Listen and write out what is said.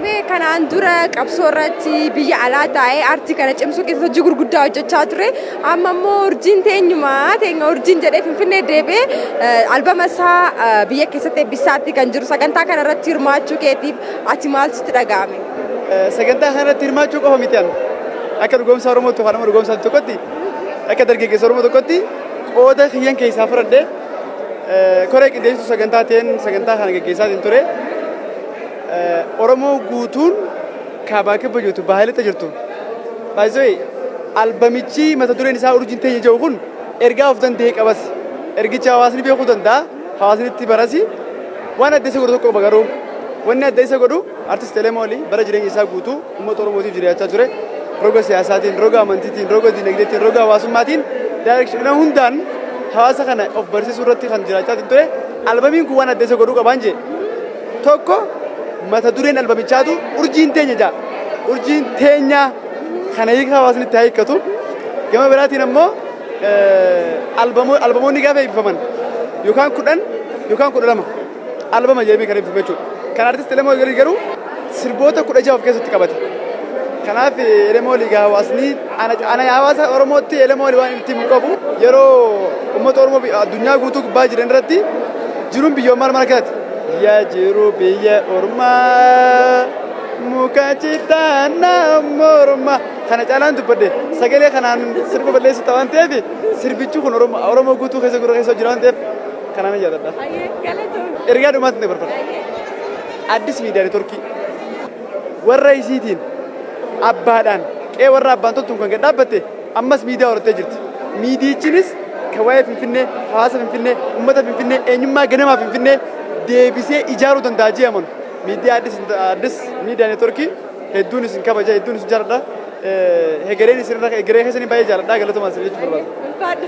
Mee kanaan dura qabsoo irratti biyya alaa taa'ee aartii kana cimsuu keessatti hojii gurguddaa hojjechaa ture. Amma immoo urjiin teenyuma teenya urjiin jedhee Finfinnee deebi'ee albama isaa biyya keessatti eebbisaatti kan jiru sagantaa kana irratti hirmaachuu keetiif ati maal sitti dhaga'ame? Sagantaa kana irratti hirmaachuu qofa miti an akka dhugoomsaa Oromootti yookaan immoo dhugoomsaa tokkotti akka dargaggeessa Oromoo tokkotti qooda kiyyan keessaa fudhadhee koree qindeessituu sagantaa ta'een sagantaa kana gaggeessaatiin ture. Oromoo guutuun kaabaa kibba jirtu baahilitta jirtu. Baay'isooyi albamichi mata dureen isaa urjiin teenya jedhu kun ergaa of danda'e qabas. Ergicha hawaasni beekuu danda'a hawaasni itti barasi. Waan adda isa godhu tokko qaba garuu wanni adda isa godhu artist Elemooli bara jireenya isaa guutuu uummata Oromootiif jiraachaa ture. Roga siyaasaatiin, roga amantiitiin, roga dinagdeetiin, roga hawaasummaatiin daayireekshina hundaan hawaasa kana of barsiisuu irratti kan jiraachaa ture. Albamiin kun waan adda isa godhu qabaan jee. tokko mata dureen albamichaatu urjiin teenya ja'a. Urjiin teenyaa kana hiika hawaasni itti haa hiikkatu. Gama biraatiin ammoo albamoonni gaafa eebbifaman yookaan kudhan yookaan kudha lama albama jedhamee kan eebbifame jechuudha. Kan artisti Elemoo Liigaa garuu sirboota kudha jaha of keessatti qabate. Kanaaf Elemoo Liigaa hawaasni Ana hawaasa Oromootti Elemoo Ali waan itti himu qabu yeroo uummata Oromoo addunyaa guutuu gubbaa jiran irratti jiruun biyya ormaa maal akkanaati. Yaa jiru biyya ormaa muka citaan morma kana caalaan dubbadde sagalee kanaan sirba balleessu ta'an ta'eef sirbichi kun Oromoo guutuu keessa gurra keessa jira waan ta'eef kanaan yaadadha. Ergaa dhumaatti na barbaada. Addis miidiyaa neetworkii. warra isiitiin abbaadhaan qe'ee warra abbaan toltuun kan gad dhaabbatte ammas miidiyaa horattee jirti. Miidiyichinis kan waa'ee Finfinnee, hawaasa Finfinnee, uummata Finfinnee, eenyummaa ganamaa Finfinnee deebisee ijaaruu danda'a jee amanu. Miidiyaa Addis, Addis Miidiyaa Neetworkii hedduun isin kabaja, hedduun isin jaaladha. Eh, Hegereen isinirra, hegeree keessanii baay'ee jaaladha. Galatomaa isin jechuu barbaada. Ulfaadhu.